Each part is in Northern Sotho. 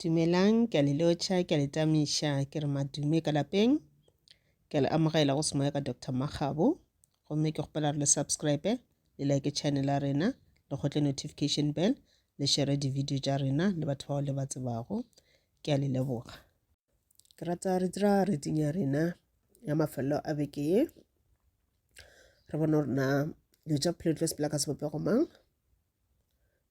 Dumelang, ke a le lotšha, ke a le tamiša, ke re madume ka lapeng. Ke a le amogela go semoya ka Doctor Makgabo. Gomme ke kgopela re le subscribe, le like channel ya rena, le kgotle notification bell, le shere di-video tša rena le batho bao le ba tsebago. Ke a le leboga. Ke rata re dira reading ya rena ya mafelelo a beke ye. Re bone gore na dilo tša bophelo di tlo sepela ka sebopego mang.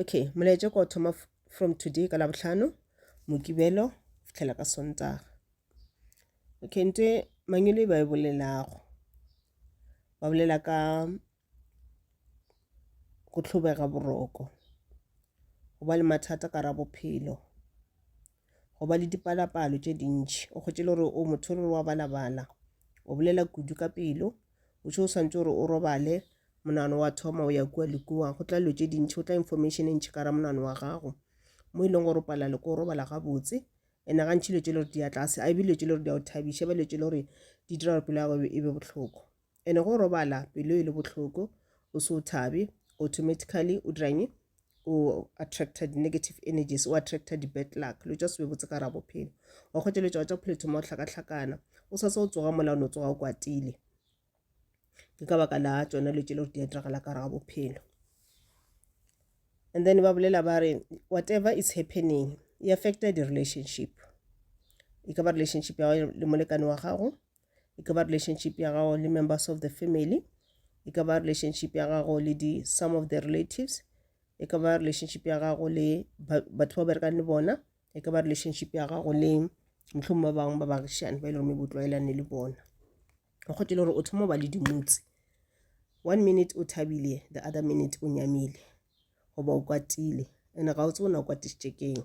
okay molaetša ko thoma from today ka labohlano mokibelo fitlhela ka sontaga okay nte mangwele ba e bolelago ba bolela ka go tlhobega boroko go ba le mathata ka ra bophelo go ba le dipalapalo tše dintši o kgotše le gore o motho le gore wa balabala o bolela kudu ka pelo o tšho o swantse gore o robale monano wa thoma o ya kua le kua go tla dilo tše dintšhi go tla information e ntšhi ka ra monano wa gago mo e leng gore o palela le ko robala gabotse ene gantšhi dilo tše le gore di ya tlase a e be dilo tše le gore di ya o thabiša ba dilo tše le gore di dira gore pelo ya gago e be botlhoko Ene go robala pelo e le bohloko, o se o thabe, automatically o diranye? O attracta di negative energies, o attracta di bad luck, lo tša se be botse ka ra bophelo. Wa kgwetša lo tša wa tša bophelo thoma o hlakahlakana, o sa tsa o tsoga mola o no tsoga o kwatile. Ke ka baka la tšona lo tšele gore di a diragala ka ra bophelo. And then ba bolela ba re whatever is happening e affecta di relationship e ka ba relationship ya le molekane wa gago e ka ba relationship ya gago le members of the family e ka ba relationship ya gago le di some of the relatives e ka ba relationship ya gago le batho ba berekang le bona e ka ba relationship ya gago le motlhong ba bangwe ba baagišane ba e le gore bo tlwaelane le bona o kgotile gore o thoma ba le dimotse one minute o thabile the other minute o nyamile goba o kwatile ene ga o tse o ne o kwatišitše keng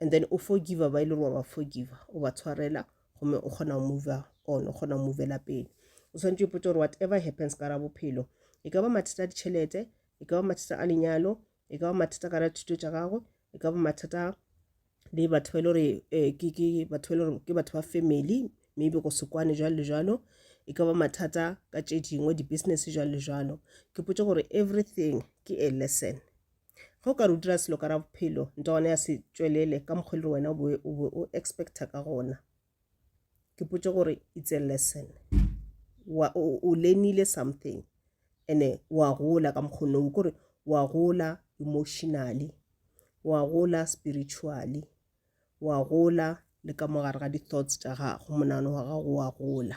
and then o forgiva ba e le gore wa ba forgiva o ba tshwarela gomme o kgona go mova on o kgona go movela pele o tshwanetse o ipotsa gore whatever happens ka ra bophelo e ka ba mathata a ditšhelete e ka ba mathata a lenyalo e ka ba mathata ka ra thuto tša gago e ka ba mathata le batho ba e le gore eh, ke batho ba e le gore ke batho ba family maybe go sekwane jalo le jalo e ka ba mathata ka tše dingwe di-business jalo le jalo ke potse gore everything ke a lesson Ge o ka re o dira selo ka ra bophelo, nta gona ya se tšwelele ka mokgwa e le wena o be o, be o expecta ka gona. Ke potše gore it's a lesson. Wa, o, o learnile something ene wa gola ka mokgwa no. Kore wa gola emotionally, wa gola spiritually, wa gola le ka mo gare ga di-thoughts tša gago, monagano wa gago wa gola.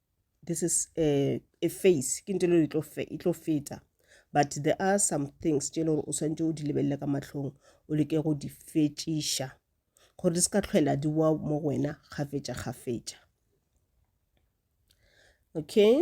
this is a, a face ke ntho e tlo fe e tlo feta but there are some things tše e le gore o swantse o di lebelele ka mahlong o leke go di fetšiša gore di se ka tlhwela di wa mo go wena kgafetša kgafetša okay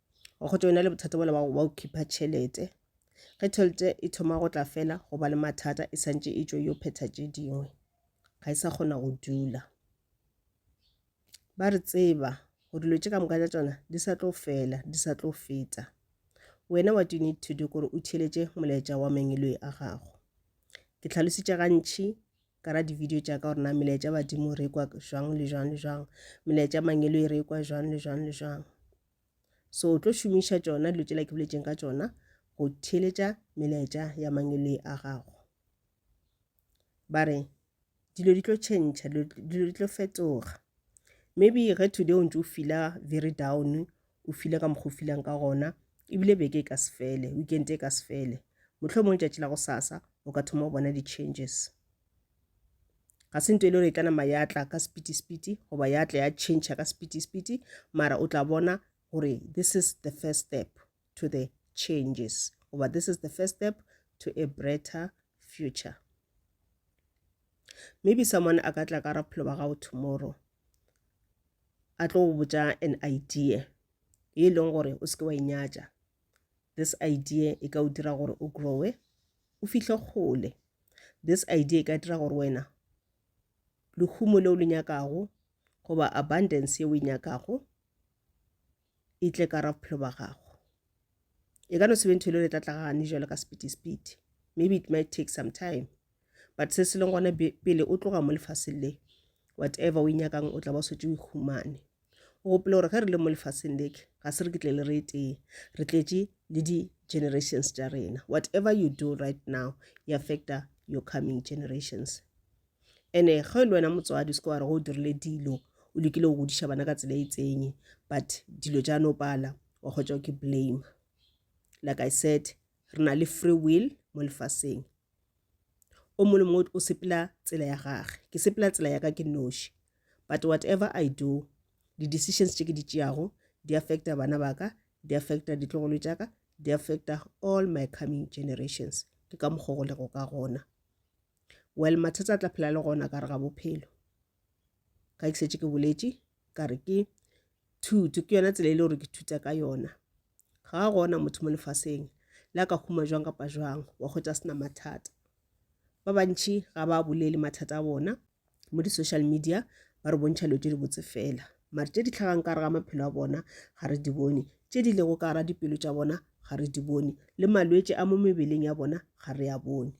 wa kgotsa o na le bothata bola wa go khipha tšhelete ge tšhelete e thoma go tla fela go ba le mathata e santše e tšo yo phetha tše dingwe ga e sa kgona go dula ba re tseba go dilo tše ka moka tša tsona di sa tlo fela di sa tlo feta wena what you need to do kore o theletše molaetša wa mengeloi a gago ke tlhalositše gantšhi ka ra di-video tša ka gore na melaetša badimo re kwa jwang le jwang le jwang melaetša mangeloi re kwa jwang le jwang le jwang So o tlo šomiša tšona dilo tšela ke boletšeng ka tšona go theeletša melaetša ya mangele a gago. Ba re dilo di tlo tšhentšha, dilo di tlo fetoga. Maybe ge today o ntse o fila very down, o file ka mokgwa o filang ka gona, ebile beke e ka se fele, weekend e ka se fele. Mohlomong tšatši la go sasa o ka thoma go bona di-changes. ga se nto e le gore e tla nama ya tla ka sepiti-sepiti goba ya tla ya change ka sepiti-sepiti mara o tla bona gore this is the first step to the changes goba this is the first step to a brighter future maybe someone a ka tla ka raphelo ba gago tomorrow a tlo go botja an idea e leng gore o seke wa inyatša this idea e ka o dira gore o growe o fihle kgole this idea e ka dira gore wena lehumo leo le nyakago goba abundance yeo e nyakago e tle ka ra bophelo ba gago e ka no sebe ntho e le le tlatlagane jalo ka sepiti-sepiti maybe it might take some time but se se leng gona pele o tloga mo lefaseng le whatever o e nyakang o tla ba swetse o e humane O gopole gore ge re le mo lefaseng le ke, ga se re ketlele re tee, re tletše le di-generations tša rena. Whatever you do right now, e affecta your coming generations. Ene ge e le wena motswadi, o seke wa re go o dirile dilo, o lekile go godiša bana ka tsela e itseng, but dilo tša no pala, wa kgwetša ke blame. Like I said, re na le free will mo lefaseng. o mongwe le mongwe o sepela tsela ya gage ke sepela tsela ya ka ke noši but whatever i do di-decisions tše ke di tšeago di affecta bana ba ka di affecta ditlogolo tša ka di affecta all my coming generations ke ka mokgwa go lego ka gona well mathata a tla phela le gona ka re ga bophelo ga ke setse ke boletše ka re ke thuto ke yona tsela e le gore ke thuta ka yona ga a gona motho mo lefaseng le a ka huma jwang kapa jwang wa kgotsa sena mathata ba bantšhi ga ba bolele mathata a bona mo di-social media ba re bontšha dilo tse di botse fela mare tse di tlhagang ka ga maphelo a bona ga re di bone tse di lego ka ga dipelo tša bona ga re di bone le malwetse a mo mebeleng ya bona ga re a bone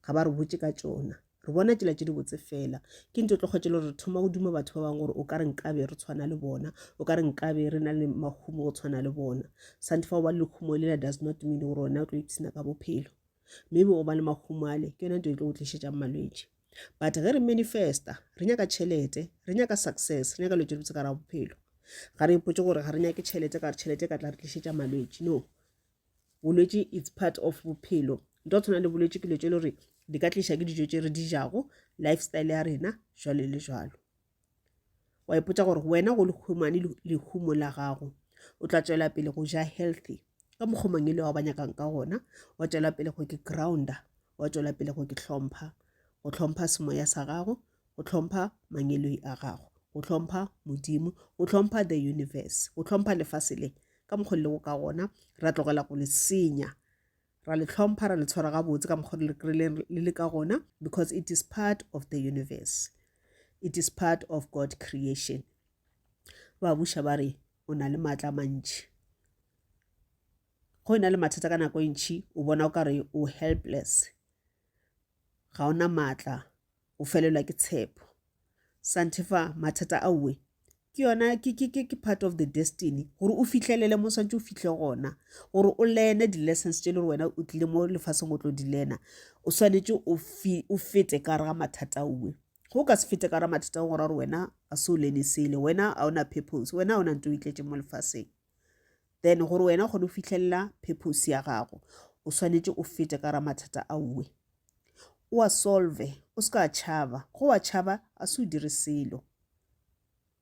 ga ba re botse ka tšona re bona tsela tše di botse fela ke ntho tlo kgwetše le gore re thoma go duma batho ba bangwe gore o ka re nkabe re tshwana le bona o ka re nkabe re na le mahumo go tshwana le bona sante fa o ba le lekhumo lela does not mean gore wena o tlo ipsena ka bophelo maybe o ba le mahumo ale ke yone nto e tlo go tlišetšang malwetši but ge re manifesta re nyaka tšhelete re nyaka success re nyaka lo tše dibotse ka ra bophelo ga re ipotse gore ga re nyake tšhelete ka re tšhelete ka tla re tlišetša malwetši no bolwetši it's part of bophelo nto tshwana le bolwetši ke dilo tše le gore di ka tliša ke dijo tše re di jago lifestyle ya rena jwalo le jwalo wa ipotsa gore wena go lehumane lehumo la gago o tla tswela pele go ja healthy ka mokgomang e le wa ba nyakang ka gona wa tswela pele go ke grounder wa tswela pele go ke tlhompha go tlhompha semoya sa gago go hlompha mangeloi a gago go hlompha modimo go hlompha the universe go hlompha lefase le ka mokgwa lego ka gona ra tlogela go le senya ra le hlompha ra le tshwara gabotse ka mokgwa le le ka gona because it is part of the universe it is part of god creation ba buša ba re o na le maatla mantši go e na le mathata ka nako e ntšhi o bona o ka re o helpless ga o na maatla o felelwa ke tshepo santefa mathata a uwe ke yona ke ke ke ke part of the destiny gore o fihlelele mo swantse o fihle gona gore o lene di-lessons tse le gore wena o tlile mo lefaseng o tlo di lena o swanetse o fete ka gare ga mathata uwe go ka se fete ka gare mathata o gore gore wena a se o lene sele wena a ona purpose wena a ona nto o itletse mo lefaseng then gore wena o kgone go fitlhelela purpose ya gago o swanetše o fete ka ra mathata a uwe o a solve o se ka tšhaba go wa tšhaba a se o dire selo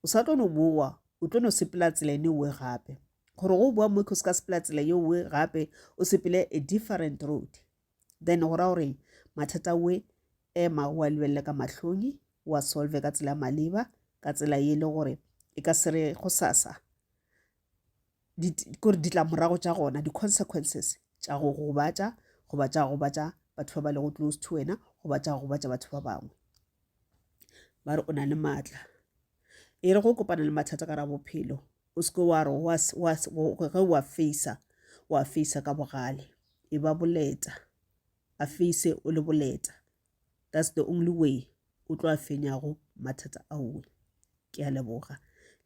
o sa tlo no bowa o tlo no sepela tsela ene uwe gape gore go bowa mo ke o se ka sepela tsela ye uwe gape o sepele a different road then go ra gore mathata we ema o a lebelele ka mahlong o a solve ka tsela maleba ka tsela ye e le gore e ka se re go sasa kore ditlamorago tša gona di-consequences tša go gobatša goba tša gobatša batho ba ba lego close to wena goba tša gobatša batho ba bangwe ba re o na le maatla e re go kopana le mathata ka ra bophelo O se ke wa re wa, wa, ge wa feisa, wa feisa ka bogale. E ba boleta. A feise o le boleta. That's the only way o tlo a fenyago mathata aowe. Ke a leboga.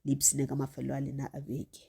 Le ipshine ka mafelelo a lena a beke.